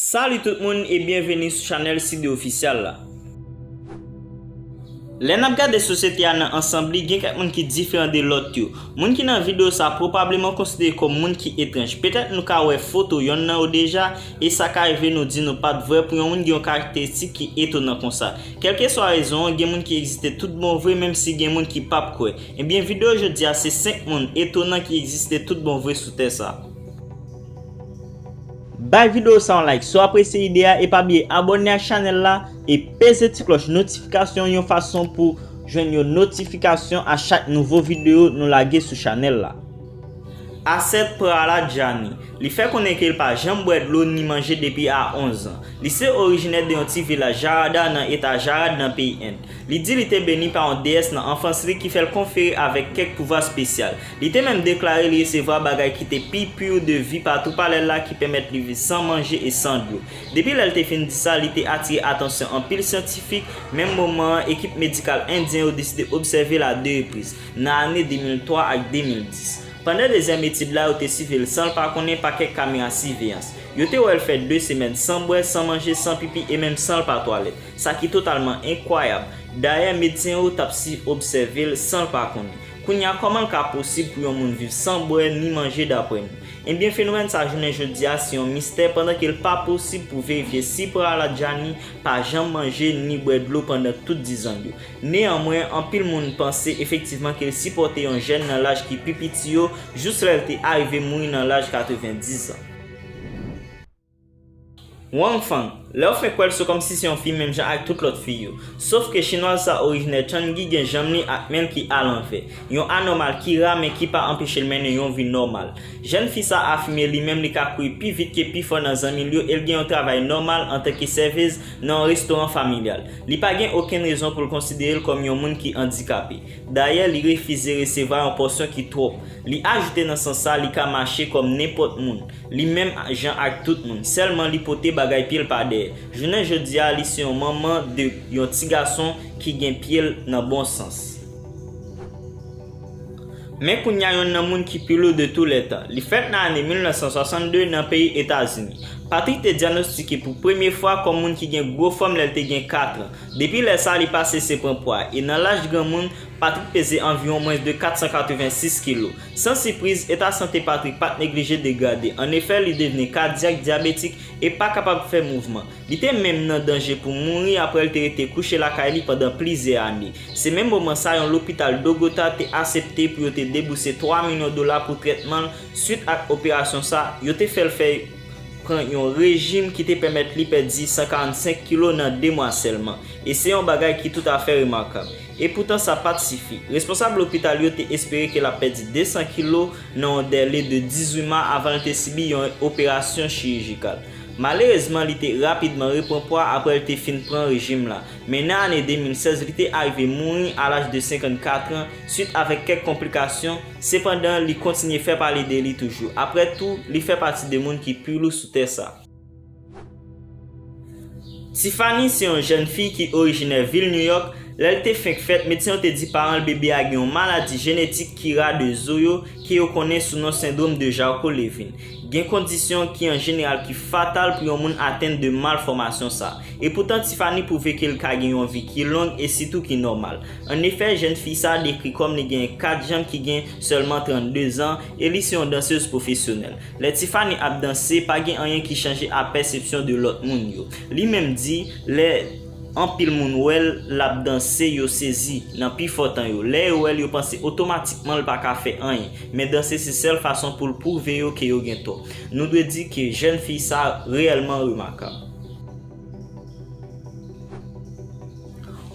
Salut tout moun e byenveni sou chanèl Sidde Official la. Lè nap gade sosyete a nan ansanb li gen kèk moun ki diferan de lòt yo. Moun ki nan video sa pwopableman konsidere kòm moun ki etranj. Petèt nou ka wè foto yonn nan yo deja e sa ka rive nou di nou pat vrè pou yon moun gen yon karakteristik ki etonan konsa. Kèlkeswa rezon an, gen moun ki egziste tout bon vre menm si gen moun ki pap kwè. Ebyen video jodi a se 5 moun etonan ki egziste tout bon vre sou tè sa. Bay video sa yon like si w apresye ide a e pa bliye abòne ak chanèl la e peze ti klòch notifikasyon yon fason pou jwenn yon notifikasyon a chak nouvo video nou lage sou chanèl la. Asset Praladjani. Li fè konnen ke l pa janm bwè dlo ni manje depi a 11 an. Li se orijinè de yon ti vilaj Jarada nan eta Jarad nan peyi End. Li di li te beni pa yon deyès nan anfans li ki fè l konfere avèk kèk pouvwa spesyal. Li te menm deklare li resevwa bagay ki te pi pur de vi pa tou palè l la ki pèmèt li viv san manje e san dlo. Depi lè l te fin di sa, li te atire atansyon anpil syantifik, menm moman an ekip medikal endyen yo deside obsève l a 2 repriz. nan ane 2003 ak 2010. Pandan dezyèm etid la yo te sive l san l pa konnen pa kèk kamera siveyans. Yo te wè l fè 2 semèn san bwè, san manje, san pipi e menm san l pa twalèt. Sa ki totalman enkwayab. Dayè medsen yo t ap si obsève l san l pa konnen. Kounye a kòman l ka posib pou yon moun viv san bwè ni manje daprè nou? Ebyen fenomèn sa jounen jodi a se yon mistè pandan ke l pa posib pou verifye si Prahaladjani pa janm manje ni bwè dlo pandan tout dizan l yo. Neyanmwen, anpil moun panse efektivman ke l sipòte yon jèn nan laj ki pi piti yo jous lè l te arive mouri nan laj 90 zan. Wang Fang, Lè w fenk wè l se kòmsi se yon fi menm jan ak tout lòt fi yo. Sof ke Chinwaz sa orijinè Changi gen janm li ak men l ki alanvè, yon anòmal ki ra men ki pa anpeche l mennen yon vi nòmal. Jèn fi sa afime li menm li ka kouri pi vit ke pifò nan zanmi l yo e l gen yon travay nòmal antanke sèvez nan yon restoran familyal. Li pa gen okenn rezon pou l konsidere l kòm yon moun ki andikape. Dayè, li refize resevwa yon pòsyon ki twòp. Li ajoute nan sans sa, li ka mache kòm nenpòt moun, li menm jan ak tout moun, sèlman li pote bagay pye l pa dèyè. Jounen jodi a, li se yon manman de yon ti gason ki gen pye l nan bon sans. Men kounya yonn nan moun ki pi lou de tou lè tan. Li fèt nan ane 1962 nan peyi Etazini. Patrick te dyanostike pou premye fwa kòm moun ki gen gwo fòm lè l te gen 4 an. Depi lè sa a li pa sese pran pwa e nan laj granmoun, Patrick peze anviwon mwens de 486 kilo. San sipriz, eta sante Patrick pa t neglije degrade. Annefè, li devni kadyak, dyabetik e pa kapab fè mouvman. Li te menm nan danje pou mouri apre l te rete kouche lakay li pandan plizyè ane. Se menm moman sa yon lopital Dogota te asepte pou yo te debouse 3 milyon dola pou trètman l swit ak operasyon sa yo te fè l fè pran yon rejim ki te pèmèt li pèdi 145 kilo nan 2 mwa sèlman e se yon bagay ki toutafè remakab. Epoutan sa pat sifi. Responsab lopital yo te espere ke l ap pèdi 200 kilo nan yon dèle de 18 ma avan l te sibi yon operasyon chirijikal. Malerezman li te rapidman repran pwa aprè l te fin pran rejim la, men nan ane 2016 li te arive mouri a laj de 54 an swit avèk kèk konplikasyon, sepandan li kontinye fè pale de li toujou. Aprè tou, li fè pati de moun ki pi lou sou tè sa. Tiffany se yon jèn fi ki orijinè vil New York, lè l te fenk fèt medsen yo te di paran l bebe a gen yon maladi jenetik ki ra de zo yo ke yo konnen sou non sendrom de Jarcot-Levin. Gen kondisyon ki an jeneral ki fatal pou yon moun atenn de malfòmasyon sa. Epoutan Tiffany pwouve ke l ka gen yon vi ki long e sitou ki nòmal. An efè, jèn fi sa a dekri kòm li genyen 4 janm ki gen sèlman 32 zan e li se yon dansez pwofesyonèl. Lè Tiffany ap danse, pa gen anyen ki chanje a pèsepsyon de lòt moun yo. Li menm di, lè. Anpil moun wè l l ap danse, yo sezi, nan pi fò tan yo. Lè yo wè l, yo panse otomatikman l pa ka fè anyen. Men danse se sèl fason pou l pwouve yo ke yo gen tò. Nou dwe di ke jèn fi sa reyèlman remakab.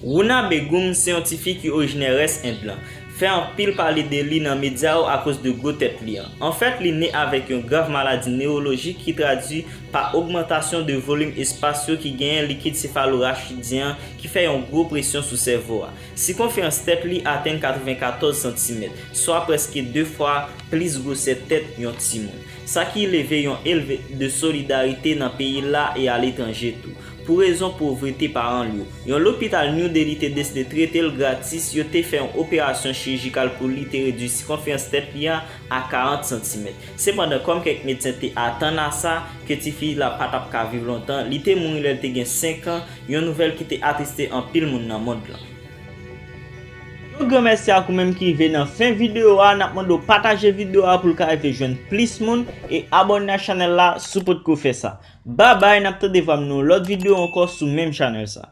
Runa Begum se yon ti fi ki orijinè rès End lan. Fè anpil pale de li nan medya yo akoz de gwo tèt li an. Anfèt li ne avèk yon grav maladi newolojik ki tradwi pa ogmantasyon de volim espas yo ki genyen likid sefalorachidyen an ki fè yon gwo presyon sou sèvo a. Sikonferans tèt li atenn 94 santimèt, swa prèske 2 fwa plis gwosè tèt yon timoun. Sa ki leve yon elve de solidarite nan peyi l la e aletranje tou. Pou rezon povrete paran l yo, yon lopital New Delhi te deside trete l gratis, yo te fè yon operasyon chirijikal pou li te redui sikonferans tèt li a a 40 santimèt. Sepandan, kòm kèk medsen te atann a sa, ke ti fi la pa t ap ka viv lontan, li te mouri lè l te gen 5 an, yon nouvèl ki te atriste anpil moun nan mond lan. Yon gran mèsi ak ou menm ki rive nan fen videyo a, n ap mande w pataje videyo a pou l ka rive jwenn plis moun, e abòne ak chanèl la si w potko fè sa. Babay, n ap tande vwa m nan yon lòt videyo ankò sou menm chanèl sa.